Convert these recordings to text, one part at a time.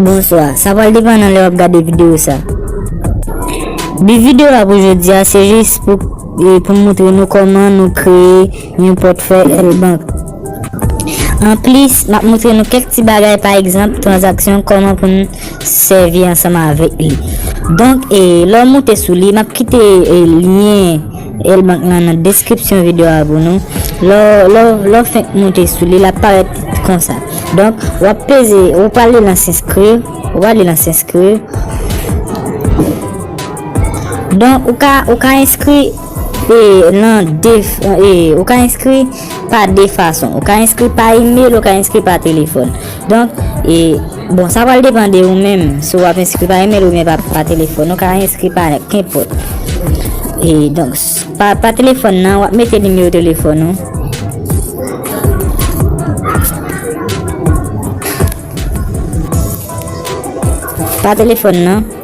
Bonswa, sa pral depan nan lè wap gade videyo sa. Bi videyo ap oujou diya se jis pou moutre nou koman nou kreye. Yon pòtfèy L Bank. Anplis, m ap montre nou kèk ti bagay pa egzanp tranzaksyon kòman pou n sèvi ansanm avèk li. Donk e lè w moute sou li, m ap kite lyen L Bank lan nan deskripsyon videyo a pou nou. Lè w fenk moute sou li, l ap parèt konsa. Donk, w ap peze, w ap ale nan s'inscrire, w ale nan s'inscrire. Donk, ou ka enskri. E nan de e ou ka enskri pa de fason. Ou ka enskri pa email, ou ka enskri pa telefòn. Donk e bon sa pral depan de ou menm si ou ap enskri pa email ou men pa telefòn. Ou ka enskri pa kenpòt. E donk pa telefòn nan wap mete nimewo telefòn ou. Pa telefòn nan.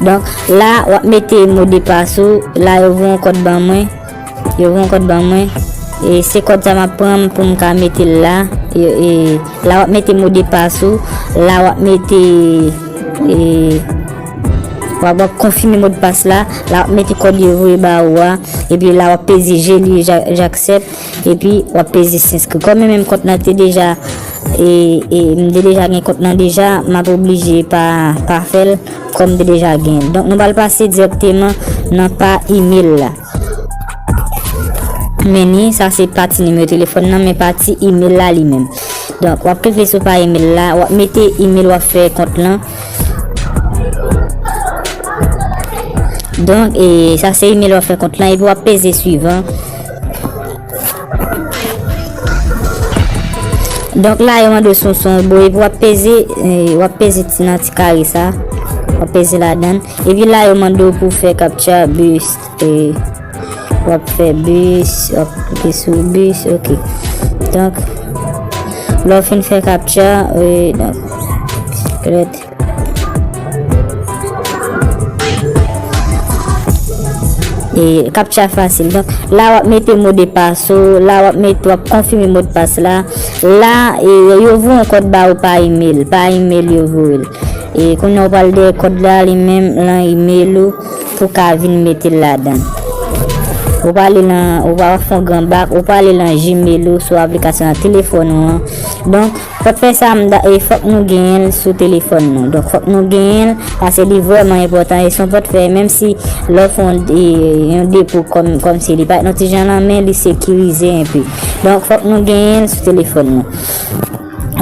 Donk la wap mete mo de pas ou la yo voye yon kòd ban mwen yo voye yon kòd ban mwen e se kòd sa map pran pou m ka mete l la e la wap mete mo de pas ou la wap mete e wap wap konfime mo de pas la la wap mete kòd yo voye ba ou a epi la wap peze je li jaksèp epi wap peze senskri kòm mwen menm kont nan te deja e e m te deja gen kont nan deja map oblije pa pa fèl. Kòm m te deja gen. Donk nou pral pase direkteman nan pa email la. Meni, sa se pati nimewo telefòn nan men pati email la li menm. Donk wap klike sou pa email la, wap mete email wap fè kont lan. Donk e sa se email wap fè kont lan epi wap peze suivant. Donk la yo mande son son ou bo epi wap peze eh, wap peze ti nan ti kare sa. Wap peze la dan. Epi la yo mande ou pou fè capture bus. Eh, wap fè bus, wap klike sou bus, ok. Donk, lò fin fè capture, eh, donk, klet. E captcha fasil. Donk la wap mete mo de pas ou, la wap mete wap konfime mo de pas la. La e yo vou an kod ba ou pa email, pa email yo vou el. E kon nou pal de kod la li menm lan email ou pou ka vin mete la dan. Ou pa li lan, ou pa fon gran bak, ou pa li lan gmail ou sou aplikasyon an telefon ou an. Donk. Fòk fè sa m da e fòk nou genyen l sou telefòn nou donk fòk nou genyen l pase li vrèman enpòtan e son pòt fè menm si lè w fè yon yon depo kòm kòm si li pa t yon ti jan lan men li sekirize enpe donk fòk nou genyen l sou telefòn nou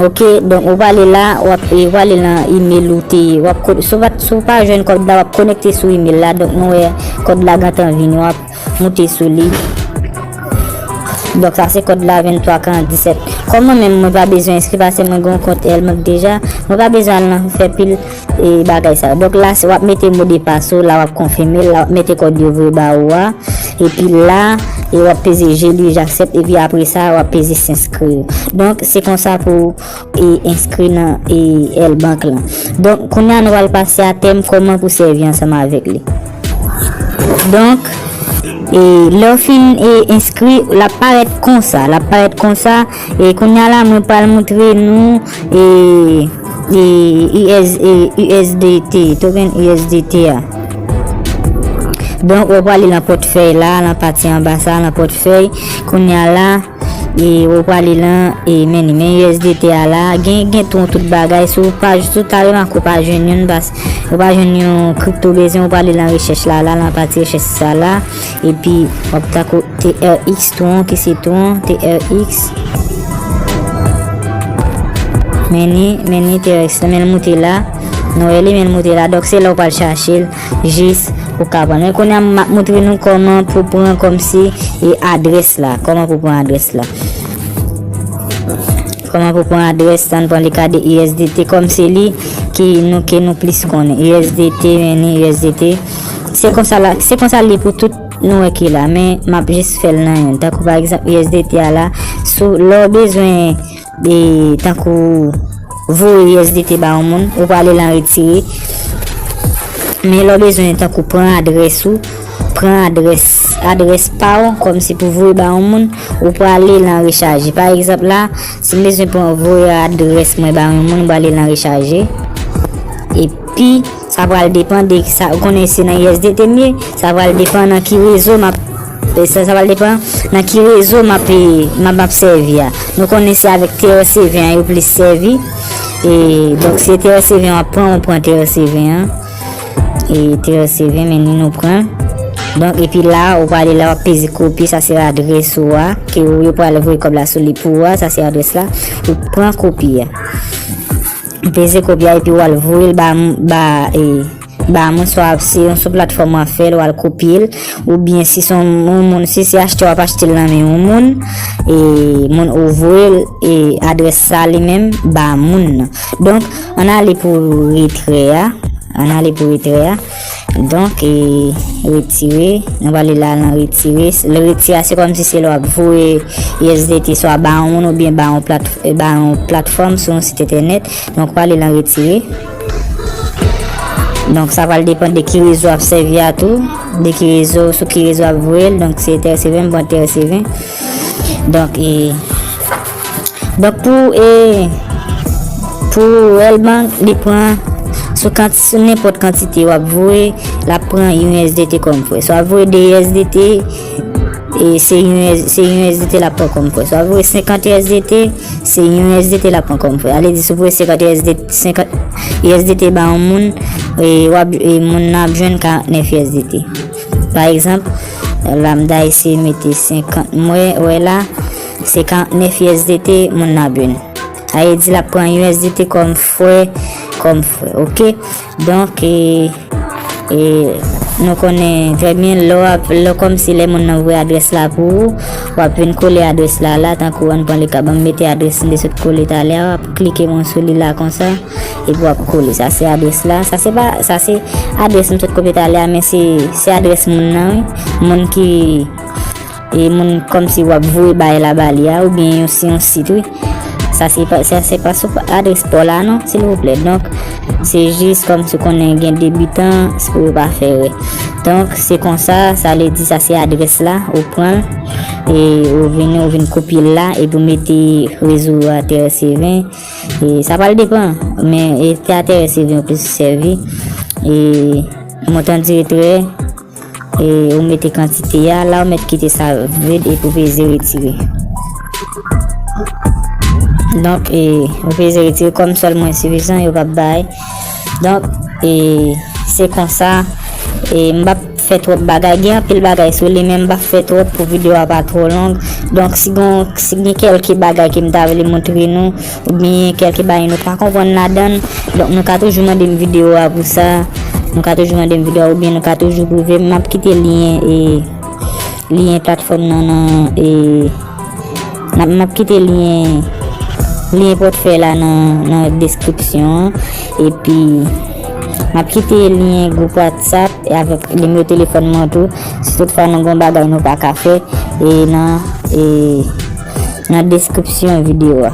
ok donk ou pale la w ap e w ale lan imel ou te w ap si w pa jwenn kòd la w ap konekte sou imel la donk nou wè kòd la gentan vini w ap Moute sou li. Donk sa se kòd la 2347. Kòm mwen menm mwen pa bezwen enskri pase mwen gon kont Elbank deja, mwen pa bezwen al nan fè pil e bagay sa yo. Donk la se wap mete modepas ou, la wap konfime, la wap mete kòd yo voye ba ou a. E pi la, e wap peze je li, j'accepte, e pi apre sa wap peze s'inskri. Donk se konsa pou. e enskri nan EIL bank lan. Donk, kounye a nou pral pase a tèm kòman pou sèvi ansanm avèk li. Donk, e lè ou fin e enskri, l ap parèt konsa, l ap parèt konsa, e kounye a la mwen pral montre nou e e US e USDT, token USDT a. Donk, ou pral li nan pòtfèy la, nan pati anba sa, nan pòtfèy, kounye a la. E ou prale lan e men ni men USDT a la gen gen ton tout bagay sou pa joutou ta reman ko pa jwen yon bas ou pa jwen yon kripto bezwen ou prale lan rechèch la la lan pati rechèch sa la e pi wap ta ko TRX ton ki se ton TRX men ni men ni TRX men moute la nou e li men moute la dok se la ou pal chache l jis ou ka pran. Men konya m ap moutre nou kòman pou pran kòmsi e adrès la. Kòman pou pran adrès la. Kòman pou pran adrès la. N pran le ka de USDT kòm se li ki nou ke nou plis konnen. USDT men ni USDT. Se konsa la. Se konsa li pou tout nou wè ki la. Men m ap jis fè l nan yon. Tako pa egzant USDT a la. Sou lò bezwen. E tankou voye usdt ba yon moun, ou prale lan retire. Men lè w bezwen tankou pran adrès ou, pran adrès, adrès pa w, kòm si pou voye ba yon moun, ou prale lan rechaje. Pa egzanp la, si m bezwen pran voye adrès mwen ba yon moun, m prale lan rechaje. Epi. Sa pral depan de sa ou konnen se nan USDT m ye, sa pral depan nan ki rezo m ap E sa sa pral depan nan ki rezo m ap m ap sèvi a. Nou konnen se avèk TRC20 an yo plis sèvi. E donk se TRC20 w ap pran, ou pran TRC20 an. E TRC20 men ni nou pran. Donk epi la ou pale la wap peze kopi sa se adres ou a ke ou yo pale vwe kob la sou li pou ou a sa se adres la ou pran kopi a. Peze kopi a epi wal voye l ba moun swa se yon sou platfòm wap fèl wal kopye l oubyen si son moun si se achte wap achte l nan men yon moun e moun ou voye l e adrès sa li menm ba moun nan. Donk an ale pou retrè a. An ale pou retrè a. Donk e retire, nou va li la nan retire, le retire a se kòm si se lò ap voye USDT swa ba yon moun ou byen ba yon platfòm sou yon sit entènèt, donk ou va li la nan retire. Donk sa va li depan de ki rezo ap sèvi a tou, de ki rezo, sou ki rezo ap voye, donk se TRC20 mwen TRC20. Donk e. Donk pou e pou World Bank li pran sou kant sou nenpòt kantite wap voye la pran yon USDT kòm fre. So ap voye 2 USDT e se yon se yon USDT la pran kòm fre. So ap voye 50 USDT se yon USDT la pran kòm fre. Ale di sou voye 50 USDT 50 USDT ba yon moun e wap e moun nan ap jwenn 49 USDT. Pa egzanp, lambda ese mete 50 mwen wè la Se 49 usdt moun nan byn. A e di lap pran usdt kom fre, kom fre ok. Donk e, e nou konnen trè byen lò ap, lò kom si lè moun nan vwe adres la pou ou, wap vin kole adres la la, tankou an pran le ka banm mete adres m te sot kole talè a, wap klike moun sou li la konsa, e pi wap kole. Sa se adres la, sa se pa, sa se adres m sot kopye talè a men se, se adres moun nan wi, moun ki. E moun komsi wap voye baye la bali a ou byen yon si yon sit wi. Sa se pa sa se pa sou adres po la non sil vouple. Donk se jis komsi konnen gen debitan se pou yo pa fè rè. Donk se konsa sa vle di sa se adres la ou pran e ou vini ou vini kopye la e pou mete rezo a te reseve. E sa pral depan men e te a te reseve ou plis sèvi. E montan dire tre. E ou mete kantite ya, la ou met kite sa yo, red epi ou peze retire. Donk e ou peze retire kom sol mwen sifizan yo pap bay. Donk e se konsa e m pap fè trop bagay gen anpil bagay sou li men m pap fè trop pou video a pa tro long. Donk si gen kelke bagay ke m ta vle montre nou. Oubyen kèlke bagay nou pa konprann ladan l. Donk nou ka toujou mande m videyo a pou sa. Nou ka toujou mande m videyo a oubyen nou ka toujou pwouve m. M ap kite lyen e lyen platfòm nan nan e m ap kite lyen lyen pòtfèy la nan deskripsyon an. Epi m ap kite lyen gwoup whatsapp e avèk nimewo telefòn mwen tou. Si tout fwa nou gen yon bagay nou pa ka fè e nan deskripsyon video a.